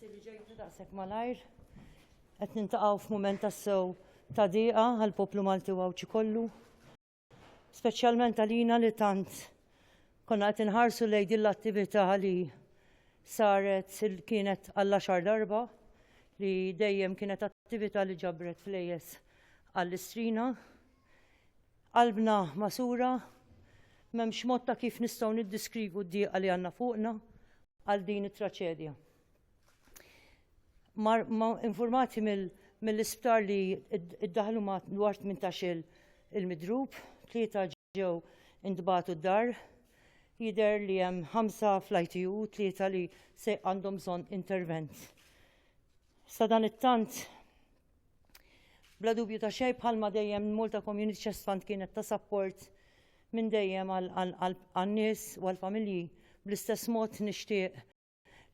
Grazzi li ġejtu daqshekk malajr. Qed nintaqgħu f'mument tassew ta' diqa għal poplu Malti u Għawdxi kollu. Speċjalment għalina li tant konna qed inħarsu lejn din l-attività li saret kienet għall xar darba li dejjem kienet attività li ġabret flejes għall-istrina. Qalbna magħsura, m'hemmx mod ta' kif nistgħu niddiskrigu d-dieqa li għandna fuqna għal din it-traċedja. Mar, ma informati mill-isptar li id-daħlu ma dwar 18 il-midrub, tlieta ġew indbatu d-dar, jider li hemm ħamsa fl-ITU, tlieta li se għandhom bżonn intervent. Sadan it-tant Bla dubju ta' xej bħalma dejjem Malta Community Chest Fund kienet ta' sapport minn dejjem għan-nies u għall-familji. Bl-istess mod nixtieq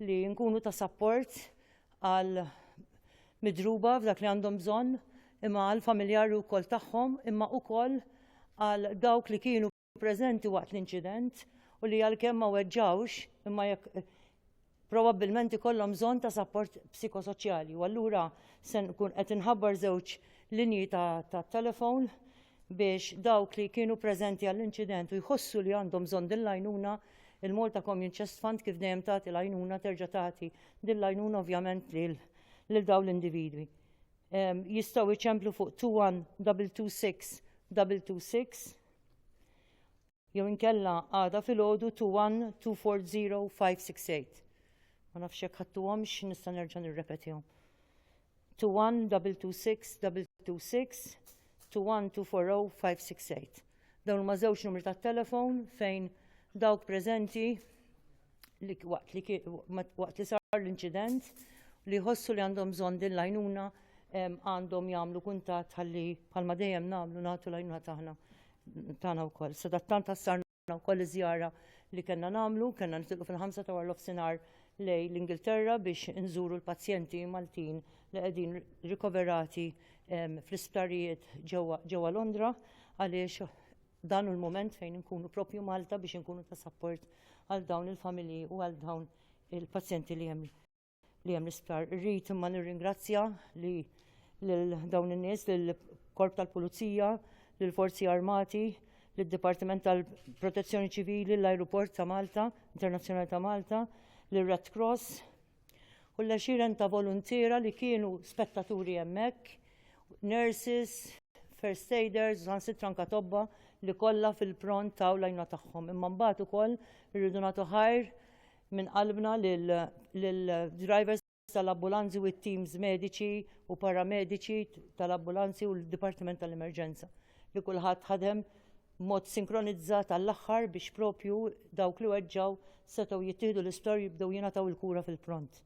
li nkunu ta' sapport għal midruba f'dak li għandhom bżonn imma għal familjari wkoll tagħhom imma wkoll għal dawk li kienu preżenti waqt l-inċident u li għalkemm ma weġġawx imma jekk eh, probabbilment ikollhom bżonn ta' sapport psikosoċjali. U allura se nkun qed inħabbar żewġ linji ta' telefon biex dawk li kienu preżenti għall-inċident u jħossu li għandhom bżonn din l-għajnuna il-Malta Community Chest Fund kif dejjem tagħti l-għajnuna terġa' tagħti din l-għajnuna ovvjament lil dawn l-individwi. Ehm, jistgħu iċemplu fuq 21226 226 Jew inkella għada filgħodu 21240 Ma nafx jekk ħadtuhomx nista' nerġa' nirrepetihom. 21226 21240 Dawn huma żewġ numri tat-telefon fejn dawk preżenti li waqt li ki- ma- waqt li sar l-inċident li jħossu li għandhom bżonn din l-għajnuna em, għandhom jagħmlu kuntatt ħalli bħalma dejjem nagħmlu nagħtu l-għajnuna tagħna tagħna wkoll. Sadattant ħassarna wkoll iż-żjara li kellna nagħmlu, kellna nitilqu fil-ħamsa ta' warlof sinar lej l-Ingilterra biex inżuru l-pazjenti Maltin li qegħdin rikoverati em, fl-isptarijiet ġewwa ġewwa Londra għaliex Dan hu l-mument fejn inkunu proprju Malta biex inkunu ta' sapport għal dawn il-familji u għal dawn il-pazjenti li hemm li hemm l-isptar. Irrid imma nirringrazzja li lil dawn in-nies, lil korp tal-Pulizija, lil Forzi Armati, lid dipartiment tal-Protezzjoni Ċivili, l-Ajruport ta' Malta, Internazzjonali ta' Malta, lir Red Cross, u l-għexieren ta' voluntiera li kienu spettaturi hemmhekk, nurses, first aiders, sansitra anka tobba li kollha fil-pront taw l-għajna tagħhom. Imma mbagħad ukoll irridu nagħtu ħajr minn qalbna lill-drivers tal-ambulanzi u t-teams mediċi u paramediċi tal-ambulanzi u l-Dipartiment tal-Emerġenza. li kulħadd ħadem b'mod sinkronizzat għall-aħħar biex propju dawk li weġġgħu setgħu jittieħdu l-isptar u jibdew jingħataw il-kura fil-pront.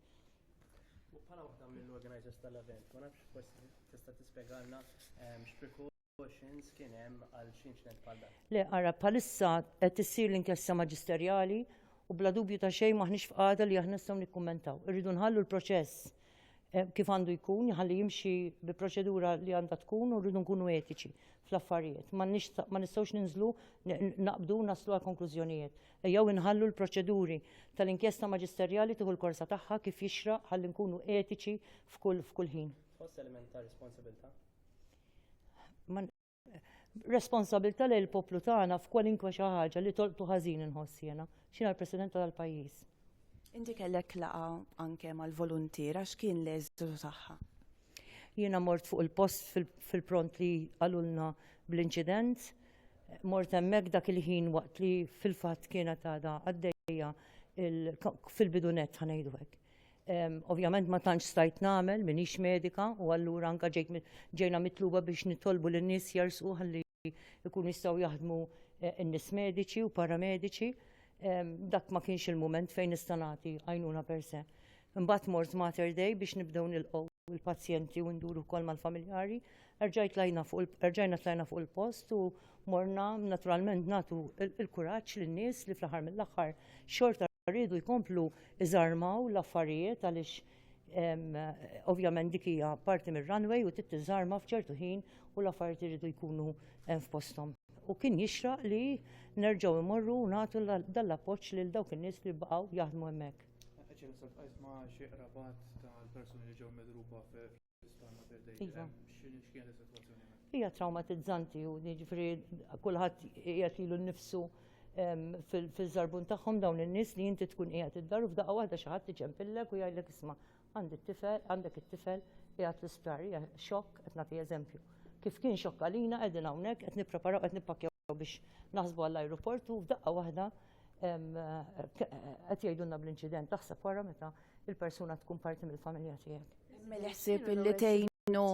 Bħala waħda mill-organizers tal-event, ma nafx forsi tista' tispjegalna ehm, x'precautions kien hemm għal xi inċident bħal dan. Le, ara, bħalissa qed issir l-inkjesta maġisterjali u bla dubju ta' xejn maħniex f'qagħda li aħna nistgħu nikkummentaw. Irridu nħallu l-proċess kif għandu jkun, jħalli jimxi bi proċedura li għandha tkun u rridu nkunu etiċi fl-affarijiet. Ma nistgħux ninżlu naqbdu naslu għal konklużjonijiet. Ejjew inħallu l-proċeduri tal-inkjesta maġisterjali tieħu l-korsa tagħha kif jixra ħalli nkunu etiċi f'kull f'kull ħin. Tħoss element ta' responsabilità? responsabilità lejn il-poplu tagħna f'kwalinkwa xi ħaġa li tolqtu ħażin inħoss jiena. X'inha l-President tal-pajjiż. Inti kellek laqa anke mal-voluntier għax kien l-eżitu tagħha. Jiena mort fuq il-post fil-pront li qalulna bl-inċident. Mort hemmhekk dak il-ħin waqt li fil-fatt kienet għadha għaddejja fil-bidunet ħanejdu hekk. Ovvjament ma tantx stajt nagħmel minix medika u allura anka ġejna mitluba biex nitolbu lin nies jersqu ħalli jkunu jistgħu jaħdmu eh, n-nies mediċi u paramediċi. Dak ma kienx il-mument fejn nista' nagħti għajnuna per se. Imbagħad mort Mater Day biex nibdew nilqgħu il-pazjenti u nduru wkoll mal-familjari Erġajt tlajna fuq il- erġajna tlajna fuq il-post u morna naturalment nagħtu il- il-kuraġġ lin-nies li fl-aħħar mill-aħħar xorta riedu jkomplu iżarmaw l-affarijiet għaliex em, ovvjament dik hija parti mir-runway u trid tiżarma f'ċertu ħin u l-affarijiet iridu jkunu em, f'posthom. U kien jixraq li nerġgħu immorru u nagħtu la- dan l-appoġġ lil dawk in-nies li baqgħu jaħdmu hemmhekk. Qed jinsab qajt ma' xi qrabat tal-persuni li ġew midruba fi Iva. Hija traumatizzanti u jiġifieri kulħadd qiegħed ilu nnifsu ehm, fil-żarbun tagħhom dawn in-nies li inti tkun qiegħed id-dar u f'daqqa waħda xi ħadd iġempillek u jgħidlek isma' għandi t-tifel, għandek it-tifel qiegħed l-isptar, hija xokk qed nagħti eżempju. Kif kien xokk għalina qegħdin hawnhekk qed nippreparaw qed nippakkjaw biex naħsbu għall-ajruport u f'daqqa waħda ehm, qed jgħidulna bl-inċident taħseb wara meta il-persuna tkun parti mill-familja tiegħek. Mel-ħsib li tejnu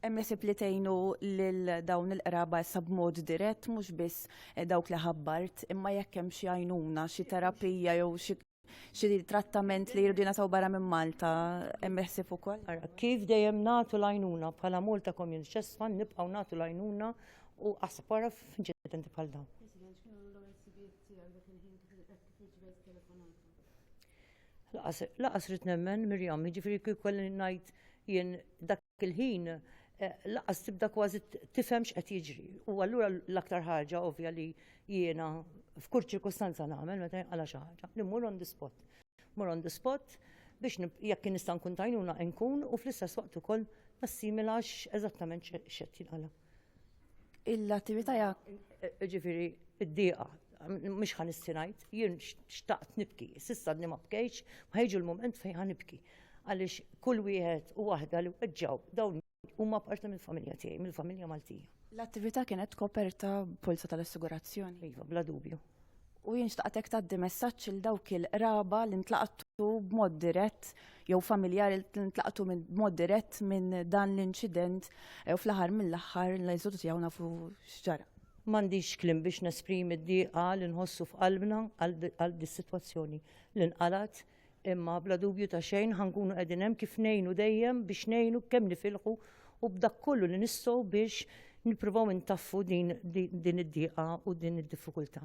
Emmesib li tejnu lil dawn il-qraba issa b'mod dirett mhux biss eh, dawk li ħabbart, imma jekk hemm xi għajnuna, xi terapija jew xi trattament li jirdu nasaw barra minn Malta emmesib ukoll. Kif dejjem nagħtu l-għajnuna bħala Malta Community Chest Fund nibqgħu nagħtu l-għajnuna u aspara f'inċidenti bħal dawn. Laqas rrid nemmen Mirjam, jiġifieri kif kolli ngħid jien dak il-ħin eh, laqas tibda kważi tifhem x'qed jiġri. U allura l-aktar ħaġa ovvja li jiena f'kull ċirkustanza nagħmel meta jinqala xi ħaġa li mmur on the spot. Mur on the spot biex jekk nista' nkun tajnuna nkun u fl-istess waqt ukoll nassimilax eżattament x'qed jinqala. l-attività ja ġifiri id-diqa mhux ħan istinajt, jien xtaqt nibki, sissa d ma bkejx, ma jiġu l-moment fejn ħan nibki. Għaliex kull wieħed u waħda li weġġaw dawn huma parti mill-familja tiegħi, mill-familja Maltija. L-attività kienet koperta polza tal-assigurazzjoni? Iva, bla dubju. u jien xtaqtek tgħaddi messaġġ il dawk il-qraba li ntlaqtu b'mod dirett jew familjari li ntlaqtu b'mod dirett minn dan l-inċident eh, u fl-aħħar mill-aħħar l-eżodu tiegħu nafu x'ġara. M'għandix klim biex nesprimi d-dieqa li nħossu f'qalbna għal dis-sitwazzjoni li nqalat imma bla dubju ta' xejn ħankunu qegħdin hemm kif ngħinu dejjem biex ngħinu kemm nifilħu u b'dak kollu li nistgħu biex nippruvaw intaffu din id-dieqa u din id-diffikultà.